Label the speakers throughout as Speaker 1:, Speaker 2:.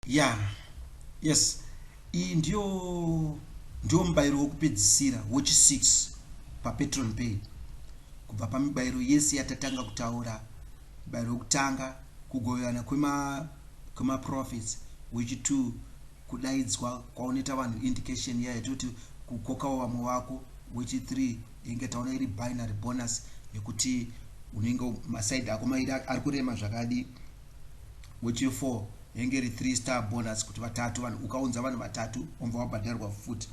Speaker 1: ya yes iyi ndiyo ndiyo mubayiro wokupedzisira wochi 6 papatron pay kubva pamibayiro yese yatatanga kutaura mubayiro wokutanga kugoverana kwemaprofits kwema wechi 2 kudaidzwa kwaonoita vanhu indication iya yatoti kukokawo vamwe vako wechi 3 inge taona iri binary bonus yekuti unenge maside ako mairi ari kurema zvakadii Mochie 4 yenge iri 3 star bonus kuti vatatu vanhu ukaunza vanhu vatatu wobva wabhadharwa futi.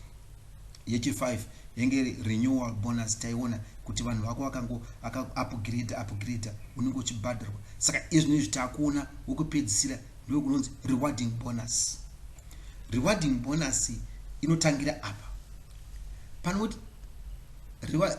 Speaker 1: Yechi 5 yenge iri renewal bonus taiona kuti vanhu vako vakango vaka upgrade upgrade unenge uchibhadharwa saka izvino izvi takuona wokupedzisira ndiwo kunonzi rewarding bonus. Rewarding bonus inotangira apa panoti reward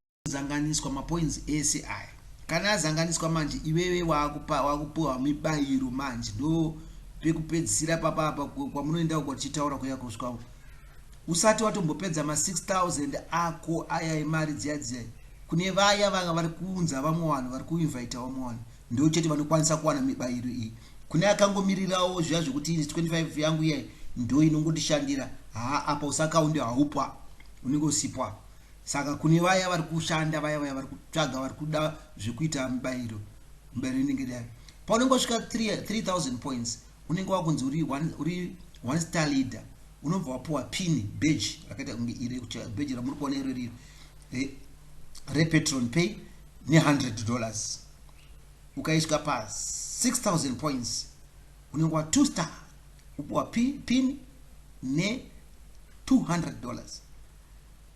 Speaker 1: Kuzanganiswa mapoints ese aya kana azanganiswa manje iwewe wakupa wakupiwa mibairo manje ndo pekupedzisira papa apa kwamunoenda uko tichitaura kuya kusvika uko usati watombopedza ma 6000 ako aya imari dziya dziya kune vaya vanga vari kuunza vamwe vanhu vari kuinvita vamwe vanhu ndo chete vanokwanisa kuwana mibairo iyi kune akangomirirawo zviya zvekuti 25 yangu iya ndo inongotishandira haa apa usakaundi haupo unenge usipwa Saka kune vaya vari kushanda vaya vaya vari kutsvaga vari kuda zvekuita mibairo mibairo inenge iri yayo paunenge wasvika 3000 points unenge wakunzi uri one, uri one star leader unobva wapuwa pin badge rakaita kunge iri badge ramuri kuona iro riri eh, repetron pay ne100 dollars ukaiswa pa 6000 points unenge wa two star upuwa pin ne 200 dollars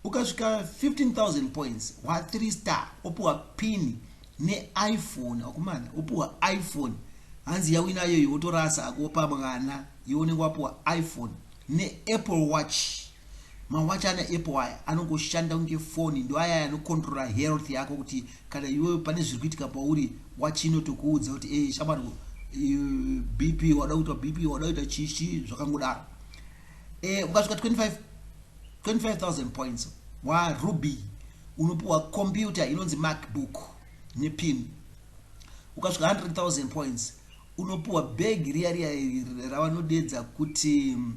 Speaker 1: ukasvika 15000 points wa 3 star opuwa pini neiphone akumana opuwa iphone hanzi yawina yoyo wotorasa hako wopa mwana iwe unenge wapuwa iphone neapple watch mawachi ana apple aya anongoshanda kunge foni ndo aya anokontrola health yako kuti kana iwe pane zviri kuitika pauri wachi inotokuudza kuti e eh, shamwari bp wada kuita bp wada kuita chichi zvakangodaro e, ukasvika 25 25000 points waruby unopiwa computer inonzi macbook nepin ukasvika 100000 points unopiwa bhegi riya riya ravanodedza kuti mm,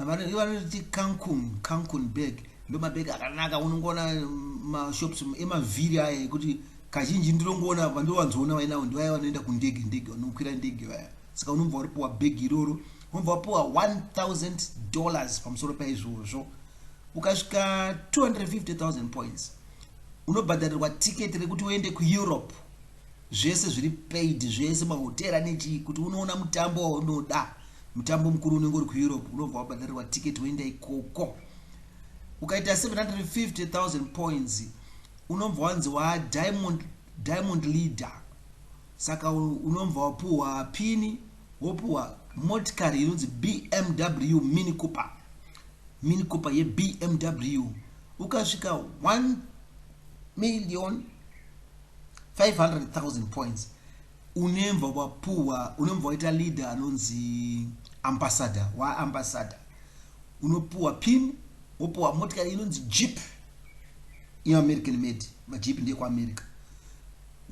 Speaker 1: vanoti cancun cancun bag ndo mabhegi akanaka unongoona mm, mashops mm, emavhiri aya ekuti kazhinji ndinongoona vandowanzoona vainawo ndivaya vanoenda kundege ndege vanokwira ndege vaya saka unobva uripiwa bhegi iroro vobva wapiwa 1000 dollars pamusoro paizvozvo ukasvika 250000 points unobhadharirwa tiketi rekuti uende kueurope zvese zviri paid zvese mahotera nechii kuti unoona mutambo waunoda mutambo mukuru unenge uri kueurope unobva wabhadharirwa tiketi woenda ikoko ukaita 750000 points unobva wanzi wadiamond diamond leader saka unobva wapuhwa pini Wopuwa motikari inonzi BMW Mini Cooper. Mini Cooper yeBMW ukasvika 1 million 500,000 points unemva wapuwa unemva waita leader anonzi ambassador waambassador unopuwa pin wopuwa motikari inonzi jeep yeamerican made majeep ndeyekuamerica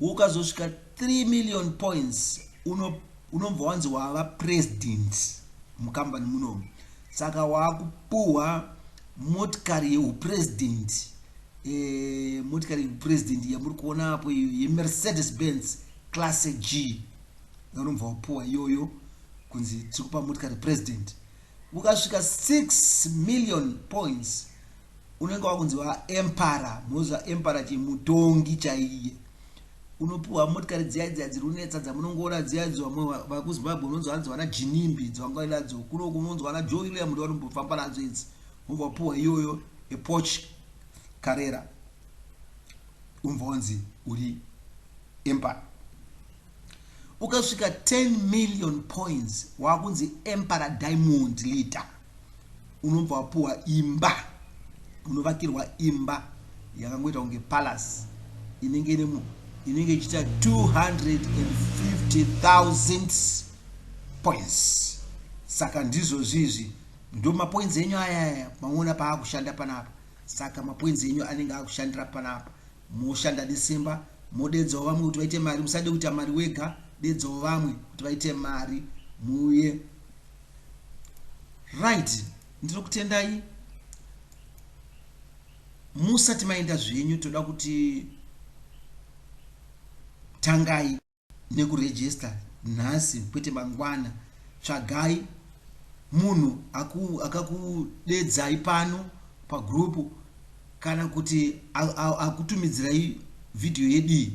Speaker 1: Ukazosvika 3 million points uno unobva wanzi wava president mukambani munomu saka waakupuhwa motikari yeupresident e, eh, motikari yeupresident yamuri kuona apo iyo yemercedes benz class g yaunobva wapuhwa iyoyo kunzi tiri kupa motikari president ukasvika 6 million points unenge wakunzi wa empara moziva empara chii mutongi chaiye unopiwa motikari dziya dziya dziri kunetsa dzamunongoona dziya idzo vamwe vakuzimbabwe unonzwa hanzi vana jinimbi dzavangari nadzo kuno kunonzwa ana joe william ndo vanombofamba nadzo idzi unobva wapiwa iyoyo epoch karera unobva wanzi uri empara ukasvika 10 million points wakunzi empara diamond leader unobva wapuwa imba unovakirwa imba yakangoita kunge palace inenge ine munhu inenge ichiita 250000 points saka ndizvozvi izvi ndo mapoints enyu ayaya maona paakushanda panapa saka mapoints enyu anenge akushandira panapa moshanda nesimba modedzawo vamwe kuti vaite mari musade kuita mari wega dedzawo vamwe kuti vaite mari muuye right ndinokutendai musati maenda zvenyu toda kuti tangai nekurejista nhasi kwete mangwana tsvagai munhu akakudedzai pano pagrupu kana kuti akutumidzirai vhidhiyo yedii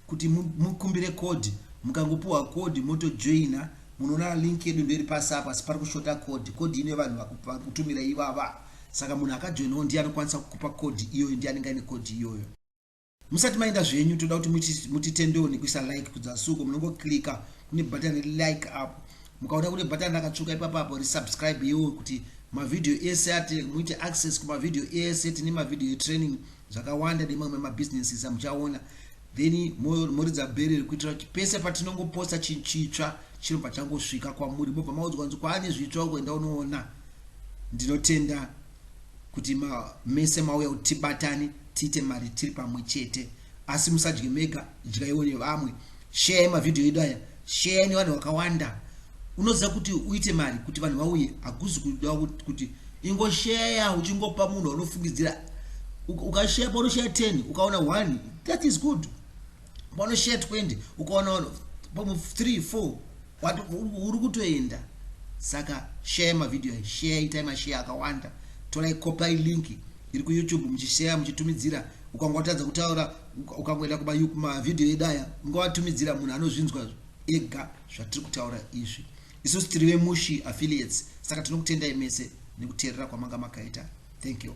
Speaker 1: kuti mukumbire kodhi mukangopiwa kodhi motojoina Munoona link yedu ndoiri pasi apa asi pari kushota code. Code ino yevanhu vari kutumira ivava. Saka munhu akajoinawo ndiye anokwanisa kukupa code iyoyo, ndiye anenge aine code iyoyo. Musati maenda zvenyu toda kuti mutitendewo nekuisa like kudzasuko munongoclicka kune button re like apo. Mukaona kune button rakatsvuka ipapo apo ri subscribe yewo kuti mavideo ese ati muite access kumavideo ese tine mavideo etraining zvakawanda nemamwe mabusinesses amuchaona Then moridza bheri iri kuitira kuti pese patinongoposta chinhu chitsva chinobva changosvika kwamuri mobva maudzwa kunzi kwaane zvitsva uko enda unoona. Ndinotenda kuti ma, mese mauya kuti tibatane tiite mari tiri pamwe chete asi musadye mega, dyaiwo nevamwe. Share mavhidhiyo edu aya. Share nevanhu vakawanda. Unoziva kuti uite mari kuti vanhu vauye hakuzi kuda kuti ingosheya uchingopa munhu waunofungidzira ukasheya paunosheya 10 ukaona 1 that is good paunosheya 20 ukaona vanhu pamwe 3 4 uri kutoenda saka share mavhidhiyo ayi share itai masheya akawanda torai kopai linki iri kuyoutube muchisheya muchitumidzira ukanga watadza kutaura ukangoenda kuma ma video edu aya ungawatumidzira munhu anozvinzwa ega zvatiri kutaura izvi isusu tiri vemushi affiliates saka tinokutendai mese nekuteerera kwamanga makaita thank you